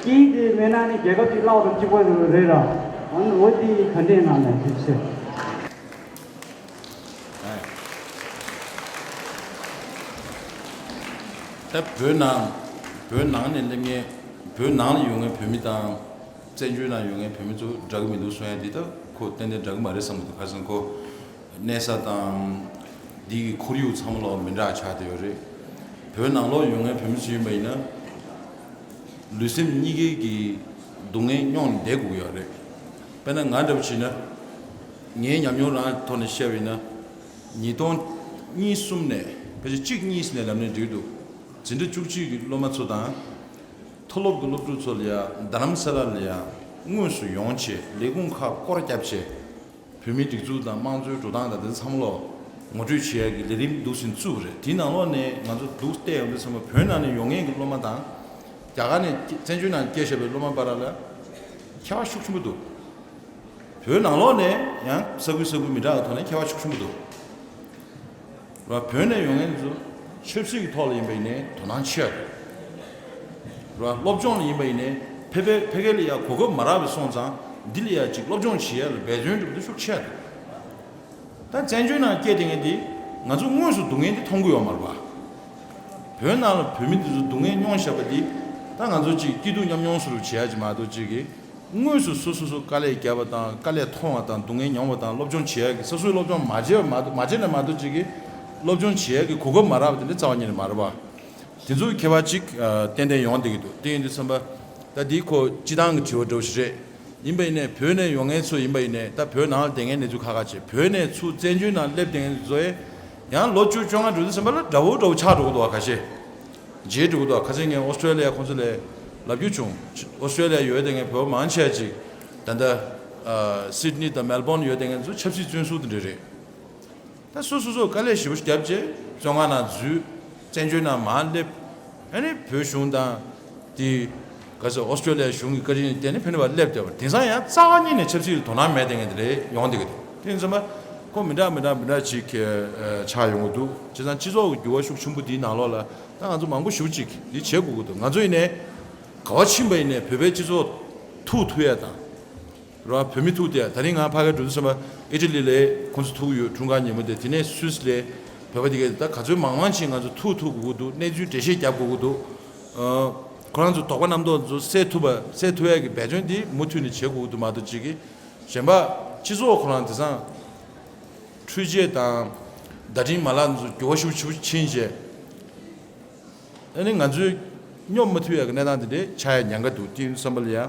ཀྱི་དེ་མེད་ན་ནི་རྒྱལ་ཁབ་ཅིག་བརླག་ཏུ་བཅུག་པ་རེད་ར། འོན་འོ་དེ་ག་འདྲས་ང་ལ་ཞིག་བཤད། ད་བོད་ནང་བོད་ནང་ནས་སླེབས་མཁན་བོད་ནང་ལ་ཡོད་མཁན་བོད་མི་དང། བཙན་བྱོལ་ནང་ཡོད་མཁན་བོད་མི་ཚོ་འདྲ་གི་མི་འདུག་གསུང་ཡ་འདི་དག་ཁོ་ཏན་ཏན་འདྲ་གི་མ་རེད་བསམ་གི་འདུག་ཁ་སང་ཁོ་གནས་ས་དང། འདི་གི་ཁོར་ཡུག་ཚང་མ་ལ་མི་འདྲ་ཆགས་ཏེ་ཡོད་རེད། བོད་ནང་ལོགས་ཡོད་མཁན་བོད་མི་ཚོ་ཡིན་པ་ཡིན་ན། ལུས་སེམས་གཉིས་ཀའི་གི་སྡུག་བསྔལ་རྙོག་ནས་འདས་འགུགས་ཡག་རེད། དཔེར་ན་ང་འདྲ་བོ་བྱས་ན། ངའི་ཉམས་མྱོང་རང་གི་ཐོག་ནས་བཤད་བས་ན། ཉིས་སྟོང་གཉིས་གསུམ་ནས་ཕལ་ཆེར་གཅིག་གཉིས་ནས་ལབ་ནས་འགྲིག་འདུག་འཛིན་གྲྭ་བཅུ་གཅིག་གི་སློབ་མ་ཚོ་དང། མཐོ་སློབ་ཀྱི་སློབ་ཕྲུག་ཚོ་ལ་ཡང་རྡ་རམ་ས་ལ་ལ་ཡང་དངོས་སུ་ཡོང་ཆེད་ལས་ཁུངས་ཁག་སྐོར་བསྐྱབས་ཆེད། བོད་མིའི་སྒྲིག་འཛུགས་དང་དམངས་གཙོའི་འགྲོ་སྟངས་དང་དེ་མཚམས་ལོ་ངོ་སྤྲོད་བྱེད་ཡག་གི་ལས་རིམ་འདུག་ཟིན་བཙུགས་རེད་དེའི་ནང་ལོག་ནས་ང་ཚོ་འདུག་བལྟས་ཡོང་དུས་ཚང་མ་བོད་ནང་ནས་ཡོང་མཁན་གྱི་སློབ་མ་དང། རྒྱ་གར་ནས་བཙན་བྱོལ་ནང་སྐྱེས་ཞབས་པའི་སློབ་མ་འབའ་ར་ལ་ཁྱད་པར་ཤུགས་ཆེན་པོ་འདུག་བོད་ནང་ལོག་ནས་ཡང་ས་ཁུལ་ས་ཁུལ་མི་འདྲ་བ་ཐོག་ནས་ཁྱད་པར་ཤུགས་ཆེན་པོ་འདུག། ར་བོད་ནས་ཡོང་མཁན་ཚོ་ཆབ་སྲིད་ཀྱི་ཐོག་ལ་ཡིན་པ་ཡིན་ནས་དོ་སྣང་ཆེ་ཡག་དགོས། ར་སློབ་སྦྱོང་ལ་ཡིན་པ་ཡིན་ནས་ཕེ་པེ་ཕེ་གེ་ལ་ཡག་གོ་སྐབས་མ་རག་པའི་སོང་ཙང་འདི་ལ་ཡག་ཅིག་སློབ་སྦྱོང་བྱེད་ཡག་ལ་འབད་བརྩོན་འགྲུབ་འདི་ཤོག་ཆེ་ཡག་དགོས། ད་བཙན་བྱོལ་ནང་སྐད་དེ་ངན་དེ་ང་ཚོ་དངོས་སུ་སྡུག་བསྔལ་འདི་མཐོང་གི་ཡོག་མ་རེད་པ། བོད་ནང་ལ་བོད་མི་འདི་ཚོ་སྡུག་བསྔལ་མྱོང་བཞག་པ་འདི་ད་ང་ཚོ་ཅིག་སྐྱིད་སྡུག་མཉམ་མྱོང་སུ་རུབ་བྱེད་ཡག་ཅིག་མ་གཏོགས་ཅིག་གི་དངོས་སུ་སོ་སོ་སོ་དཀའ་ལས་བརྒྱབ་པ་དང་དཀའ་ལས་མཐོང་བ་དང་སྡུག་བསྔལ་མྱོང་བ་དང་སློབ་སྦྱོང་བྱེད་ཡག་གི་ས་སོའི་སློབ་སྦྱོང་མ་བྱེད་མ་མ་བྱེད་ནས་མ་གཏོགས་ཅིག་གིས་སློབ་སྦྱོང་བྱེད་ཡག་གི་གོ་སྐབས་མ་རག་པ་དེ་འདྲའི་རྩ་བ་ཉིད་ནས་མ་རེད་པ། དེ་ཚོ་མཁས་པ་ཅིག་ཏན་ཏན་ཡོང་བསྡད་ཀྱི་འདུག་དེ་ཡིན་དུས་བསམ་པ། ད་འདིའི་ཁོ་སྤྱི་བཏང་གི་དྲི་བ་འདྲ་བོ་ཞིག་རེད། ཡིན་པ་ཡིན་ནས་བོད་ནས་ཡོང་མཁན་ཚོ་ཡིན་པ་ཡིན་ནས་ད་བོད་ནང་ལ་བསྡད་མཁན་གནས་ཚུལ་ཁ་ཁ་བྱེད་བོད་ནས་ཚུར་བཙན་བྱོལ་ནང་སླེབས་བསྡད་མཁན་ཚོའི། ཡང་ལོ་བཅུ་བཅོ་ལྔ་འགྲོ་དུས་སེམས་པ་ལ་དགྲ་བོ་དགྲ་བོ་ཆགས་འགྲོ་གི་འདུག་ག་ཁ་ཤས་རྗེས་འགྲོ་གི་འདུག་ག་ཁ་ཚེ་ངས་ཨོ་སི་ཀྲ་ལི་ཡ་ཁོང་ཚོ་ལས་ལབ་རྒྱུ་བྱུང་ཨོ་སི་ཀྲ་ལི་ཡ་ཡོད་དེ་ངས་བོད་པ་མང་ཆེ་བ་ཅིག་ད་ལྟ་སིད་ནི་དང་མེལ་སྦོར་ནི་ཡོད་དེ་ངས་ཚོ་ཆབ་སྲིད་བཙོན་སུག་དེ་འདྲ་རེད་ད་སུ་སོ་སོ་དཀའ་ལས་ཞིབ་པོ་བརྒྱབ་རྗེས་བཙོན་ཁང་ནང་འཛུལ་བཙན་བྱོལ་ནང་མ་སླེབས། ཧན་རི་བོད་གཞུང་དང། དེ། གལ་སྲིད་ཨོ་སི་ཀྲོ་ལི་ཡ་གཞུང་གི་བཀའ་དྲིན་ལས་དེ་ནི་ཕན་ནུས་པ་སླེབས་བསྡད་པ་རེད་དེང་སང་ཡང་རྩ་བ་ཉིད་ནས་ཆབ་སྲིད་ལ་དོ་སྣང་མེད་ལྟ་ངན་དེ་ལས་ཡོང་བསྡད་གི་རེད་དེ་མཚོན་པ། ཁོ་མི་འདྲ་མི་འདྲ་མི་འདྲ་ཅིག་ཆགས་ཡོང་གི་འདུག་བྱས་ཙང་སྤྱི་ཚོགས་ཀྱི་འགྱུར་བ་ཤུགས་ཆུན་པོ་འདིའི་ནང་ལོགས་ལ་ད་ང་ཚོ་མང་པོ་ཞུགས་ཅིག་འདི་བྱེད་དགོས་གི་འདུག་ང་ཚོ་ཡིན་ནས། ག་བ་ཕྱིན་པ་ཡིན་ནས་བོད་པའི་སྤྱི་ཚོགས་ཐུགས་མཐུ་ཡས་དང། རོ་ཨབ་བུད་མེད་ཐུག་སྟེ་ད་རིང་ང་ཕ་གའི་འགྲོ་དུས་སེམས་པ་ཨི་ཏྲི་ལི་ལའི་ཁོང་ཚོ་ཐུག་ཡོད་འཁྲུངས་སྐར་ཉིན་མོ་དེ་དེ་ནས་སུས་ལས་བོད་པ་དེ་གས་ད་ག་ཚོད་མང་མང་ཕྱིན་ང་ཚོ་ཐུག་ཐུག་དགོས་ཀྱི་འདུག་གནས་ཚུལ་འགྲེལ་བཤད་རྒྱབ་དགོས་ཀྱི་འདུག་ཁོ་རང་ཚོ་དོགས་པ་རྣམ་རྟོག་ཚོ་སེལ་ཐུབ་པ་སེལ་ཐུབ་ཡག་གི་འབད་བརྩོན་དེ་མུ་མཐུད་ནས་བྱེད་དགོས་ཀྱི་འདུག་མ་གཏོགས་ཅིག་གཞན་པ་སྤྱི་ཚོགས་ཁོ་རང་དེ་སང་འཕྲུལ་ཆས་དང་བརྡ་འཕྲིན་མ་ལག་འདི་ཚོ་འགྱུར་བ་ཤུགས་ཆེ་ཕྱིན་རྗེས་ཨ་ནི་ང་ཚོས་སྙོབ་མ་ཐུབ་ཡག་གི་གནས་སྟངས་དེ་འདྲས་ཆགས་ཡག་ཉན་ག་འདུག་ཀྱི་བསམ་པ་ལ་ཡ།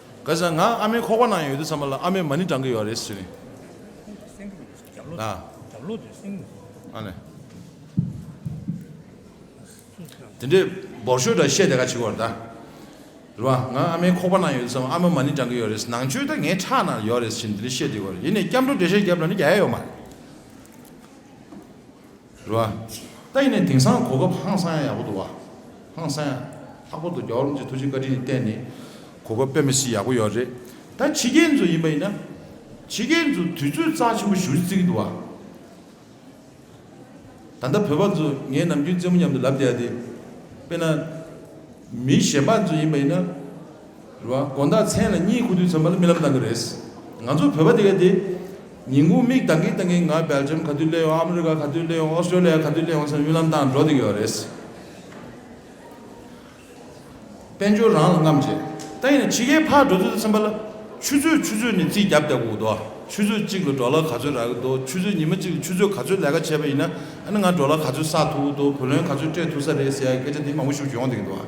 ག་ཟེ་ང་ཨ་མའི་ཁོག་པ་ནང་ཡོད་དུས་ཚང་མ་ལ་ཨ་མའི་མ་ནི་བགྲང་གི་ཡོད་རེད་ཟེར། དེ་འདྲའི་འབོར་ཤོས་འདྲ་བཤད་དེ་ག་བྱེད་དགོས་རེད་ད། རེད་བ། ང་ཨ་མའི་ཁོག་པ་ནང་ཡོད་དུས་ཚང་མ་ཨ་མའི་མ་ནི་བགྲང་གི་ཡོད་རེད་ཟེར་ནང་ཆོས་ད་ངའི་ཁྲག་ནང་ཡོད་རེད་ཟེར་བཞིན་དེ་འདྲའི་བཤད་དེ་གོ་རེད་ཡིན་ནས་སྐྱབས་འགྲོ་འགྲེལ་བཤད་རྒྱབ་ལ་ནི་རྒྱ་ཡ་ཡོད་མ་རེད། རུ་ཨ། ཏཱ་ཡིན་ནས་དེང་སང་གོ་སྐབས་ཧང་སང་ཡག་པོ་འདུག་བ། ཧང་སང་ཡག། ལྷག་པར་དུ་རྒྱ་བོར་རིན་ཆེན་ཐུགས་རྗེ་བཀའ་དྲིན་ཡི་བརྟེན་ནས་གོ་སྐབས་དཔེ་མི་སྲིད་ཡག་པོ་ཡོད་རེད། ད་ཕྱི་རྒྱལ་འཛུགས་ཡིན་པ་ཡིན་ན། ཕྱི་རྒྱལ་འཛུགས་དུས་ཚོད་རྩ་ཆེན་པོ་ཞུ་རྩིས་ཀྱི་འདུག་བ། ད་ལྟ་བོད་པ་ཚོ་ངའི་ནམ་རྒྱུན་རྩེད་མོ་མཉམ་དུ་ལབ་བསྡད་དེ། དཔེ་ན། མི་གཞན་པ་འཛུགས་ཡིན་པ་ཡིན་ན། རེད། དགོན་བདག་མཚན་ལ་གཉིད་ཁུག་དུས་ཚོད་མ་ལ་རྨི་ལམ་བཏང་གི་རེད། ང་ཚོ་བོད་པ་དེ་ག་དེ། ཉིན་གུང་མིག་གདང་གིན་གདང་གིན་ང་སྦེལ་ཇམ་ག་དུས་སླེབས་ཡོང་ཨ་མི་རི་ཀ་ག་དུས་སླེབས་ཡོང་ཨོ་སི་ཀྲོ་ལི་ཡ་ག་དུས་སླེབས་ཡོང་ཚར་རྨི་ལམ་བཏང་འགྲོ་འདོད་ཀྱི་ཡོད་རེད། དཔལ་འབྱོར་རང་ལ་རྔམ་བྱེད། ད་ཡིན་ན་ཕྱི་རྒྱལ་ཕར་འགྲོ་ཚོད་ཚོད་ཚན་པ་ལ། ཆུ་ཚོད་ཆུ་ཚོད་ནས་རྩིས་རྒྱབ་རྒྱབ་གི་འུག་འདུག་ཆུ་ཚོད་གཅིག་ལ་འགྲོ་ལ་ག་ཚོད་རག་གི་འདུག་ཆུ་ཚོད་ཉི་མ་གཅིག་ལ་ཆུ་ཚོད་ག་ཚོད་ལས་ཀ་བྱས་པ་ཡིན་ན་ཨ་ནི་ང་འགྲོ་ལ་ག་ཚོད་བསགས་ཐུབ་ཀི་འདུག་བུ་ལོན་ག་ཚོད་སྤྲད་ཐུབ་ས་རེད་ཟེར་ཡག་གི་སྐད་ཆ་དེ་མང་པོ་ཤུགས་ཀྱིས་ཡོང་འདོད་ཀྱི་འདུག་ཨ།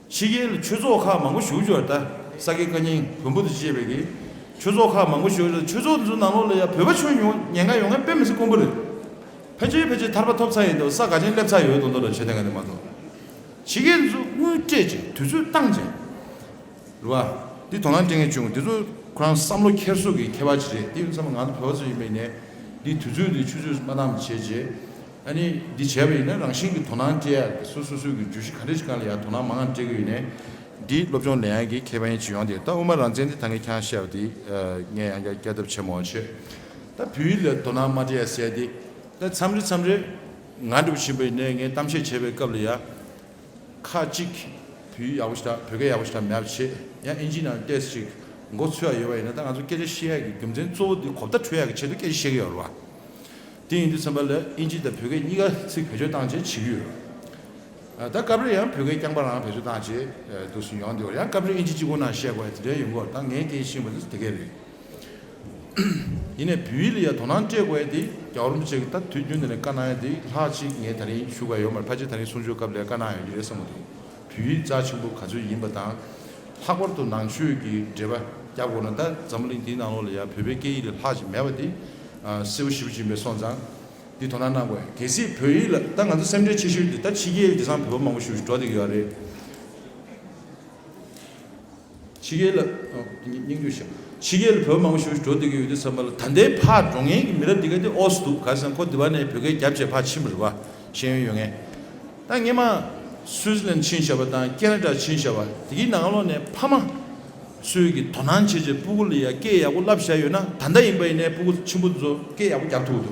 ཕྱི་རྒྱལ་ལ་ཆོས་ཚོགས་ཁག་མང་པོ་བཞུགས་ཆོག་ད་ས་དགེ་བཀའ་རྙིང་བོན་པོ་དུ་བཅས་པའི་གི་ཆོས་ཚོགས་ཁག་མང་པོ་བཞུགས་ཆོག་ཆོས་ཚོགས་འདི་ཚོ་ནང་ལོགས་ལ་ཡང་བོད་པ་ཆོས་ཉུང་ཉེན་ཁ་ཡོང་ངེས་དཔེ་མི་སྲིད་དཀོན་པོ་རེད། ཕལ་ཆེར་ཕལ་ཆེར་ཐར་པ་ཐོབ་ཚར་ཡིན་འདུག་ས་ག་ཅན་སླེབས་ཚར་ཡོད་འདུག་མདོ་ལ་ཆོས་སྡེ་འགའ་ནས་མ་གཏོགས། ཕྱི་རྒྱལ་འདི་ཚོ་དངུལ་སྤྲད་ཅིང་དུས་ཚོད་བཏང་ཅིང། རེད་པ། འདི་དོ་སྣང་སྤྲད་མཁན་བྱུང་འདི་ཚོ་ཁོ་རང་བསམ་བློ་འཁྱེར་སོ་གི་ཁྱད་པར་ཅི་རེད་དེ་ཡིན་ཚང་མ་ང་ཚོ་བོད་པ་ཚོ་ཡིན་པའི་ནས་འདི་དུས་ཚོད་འདི་ཆུ་ཚོད་མ་གཏང་བྱས་རྗེས། ཨ་ནི་འདི་བྱས་པ་ཡིན་ན་རང་བཞིན་གྱི་དོ་སྣང་བསྐྱེད་ཡ་རེད་སོ་སོ་སོའི་གྱི་བརྗོད་གཞི་ག་འདྲ་ཞིག་གང་ལ་ཡང་དོ་སྣང་མང་ཙམ་སྤྲད་གི་ཡོད་ནས། འདི་སློབ་སྦྱོང་ལེན་ཡ་གྱི་ཁྱད་པར་ཡིན་ཅི་ཡོང་དེ་ད་དབུ་མ་རང་བཙན་འདི་ད་ངས་ཁྱང་བཤད་པ་དེ་ངས་ཡང་བསྐྱར་བསྐྱར་ཐབས་ཆེན་མོ་བྱེད། ད་བོད་ཡིག་ལ་དོ་སྣང་མ་སྤྲད་ཡ་གསལ་དེ་ད་མཚམས་རེ་མཚམས་རེ་ང་འབྲི་བ་བཞིན་པ་ཡིན་ནས་ངས་གཏམ་བཤད་བྱེད་པའི་སྐབས་ལ་ཡ། ཁ་ཅིག་བོད་ཡིག་ཡག་པོ་ཞིག་དང་བོད་སྐད་ཡག་པོ་ཞིག་དང་མེད་པ་བྱེད་ཡ་ཨིན་ཇིའི་ནང་ལྟས་ཅིག་མགོ་འཚོས་ཡ་ཡོད་པ་ཡིན་ན་ད་ང་ཚོ་སྐད་ཆ་བཤད་ཡ་གྱི་རྒྱུ་མཚན་གཙོ་བོ་དེ་གོ་བརྡ་འཕྲོད་ཡ་གྱི་ཆེད་དུ་སྐད་ཆ་བཤད་གི་ཡོད་རེད་བ། དེ་ཡིན་དུས་ཚན་པ་ལས་ཨིན་ཇི་དང་བོད་སྐད་གཉིས་ཀ་ཚིག་བེད་སྤྱོད་བཏང་རྗེས་བྱེད་ཀྱི་ཡོད། ད་སྐབས་རེ་ཡང་བོད་སྐད་རྐྱང་པ་རང་བེད་སྤྱོད་བཏང་རྗེས་འདུག་སུན་ཡོང་དེ་བར་ཡང་སྐབས་རེ་ཨིན་ཇི་གཅིག་པོ་ན་བཤད་དགོས་པ་དེ་འདྲའི་ཡོད་སྐོར་དང་ངས་སྐད་ཤེས་པ་དེ་གས་རེད། ཡིན་ནས་བུའི་ལ་ཡ་དོ་སྣང་སྤྲད་དགོས་ཡ་དེ་རྒྱག་རུང་བྱེད་ཀྱི་ད་དུས་རྒྱུན་དེ་ལས་དཀའ་སྣང་ཡ་དེ་ལྷག་ཅིག་ངས་ད་རིང་ཞུ་དགའ་ཡོད་མ་རེད་ཕ་ཅེ་ད་རིང་གསུང་ཆོས་སྐབས་ལས་དཀའ་སྣང་ཡོད་ཀྱི་རེད་བསམ་མ་ཐུབ། བོད་ཡིག་རྩ་ཆེན་པོ་ག་ཚོད་ཡིན་པ་དང། ལྷག་པར་དུ་ནང་ཆོས་ཀྱི་འགྲེལ་པ་རྒྱབ་དགོས་ན་ད་འཛམ་བུ་གླིང་འདིའི་ནང་ལོགས་ལ་ཡང་བོད་པའི་སྐད་ཡིག་ལས་ལྷག་ཅིག་མེད་པ་འདི། སེར་བོ་ཞི་བ་སྦྱིན་པའི་སོང་ཙང། འདི་དོ་སྣང་གནང་དགོས། གལ་སྲིད་བོད་ཡིག་ལ་ད་ང་ཚོ་སེམས་ཁྲལ་ཆེ་ཤོས་འདི་ད་ཕྱི་རྒྱལ་ཡུལ་དེ་སང་བོད་པ་མང་པོ་བཞུགས་ཤིག་འགྲོ་འདེགས་ཡོད་རེད། ཕྱི་རྒྱལ་ལ། སྙིང་རྗེ་ཞུ། ཕྱི་རྒྱལ་ལ་བོད་མང་པོ་ཞུ་ཞུ་འགྲོ་སྡོད་ཀྱི་ཡོད་དུས་ཚང་མ་ལ་ད་ལྟའི་ཕ་འགྲོ་ངན་གྱི་མི་རབས་འདི་ག་དེ་ཨོ་སི་འདུག་ག་ས་ཁོ་དེ་བ་ནས་བོད་སྐད་རྒྱབ་བྱས་ཕ་ཕྱིན་པ་རེད་བ་ཤེས་ཡོན་ཡོད་ངེས་ད་ངེད་མ་སུའི་ཟི་ལན་ཕྱིན་བཞག་པ་དང་ཀེ་ན་ཏྲ་ཕྱིན་བཞག་བ་དེ་གི་ནང་ལོག་ནས་ཕ་མ་སུའི་གི་དོ་སྣང་བྱེད་བྱེད་སྤུ་གུ་ལ་ཡ་སྐད་ཡག་པོ་བསླབ་བཞག་ཡོད་ན་ད་ད་ཡིན་པ་ཡིན་ནས་སྤུ་གུ་ཆེན་པོ་ཚོ་སྐད་ཡག་པོ་རྒྱབ་ཐུབ་དུ།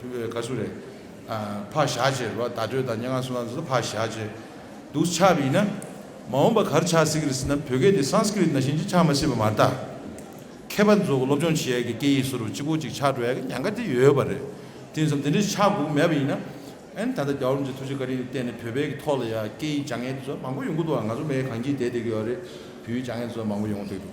ཁ་སུ་རེད། ཕག་ཞག་ཅེས་པ་བརྡ་སྤྲོད་དང་སྙན་ངག་སུ་ལ་འཛུགས་ན་ཕག་ཞག་ཅེས་འདུག་ཆགས་པ་ཡིན་ན། མ་འོངས་པ་གར་ཆགས་སྲིད་ཀྱི་རེད་ཟེར་ན་བོད་སྐད་དེ Sanskrit ན་བཞིན་ཅིག་ཆགས་མ་སྲིད་པ་མ་གཏགས། མཁས་པ་ཚོ་སློབ་སྦྱོང་བྱེད་ཡག་གི་སྐད་ཡིག་སུ་རུ་ཅི་གོ་ཅིག་ཆགས་འགྲོ་ཡག་གི་ཉན་ཁ་དེ་ཡོད་པ་རེད། དེང་སང་དེ་འདྲའི་ཆགས་སྒོ་མེད་པ་ཡིན་ན། ཨན་ད་ལྟ་རྒྱ་འོམ་ཆེན་ཐུགས་རྗེ་བཀའ་དྲིན་གྱི་བརྟེན་ནས་བོད་པའི་གི་ཐོག་ལ་ཡང་སྐད་ཡིག་སྦྱང་མཁན་དེ་ཚོ་མང་པོ་ཡོང་གི་འདུག་བ་ང་ཚོ་མེད་གང་གྱིས་དེད་དེ་གི་ཡོད་རེད་བོད་ཡིག་སྦྱང་མཁན་དེ་ཚོ་མང་པོ་ཡོང་གི་འདུག།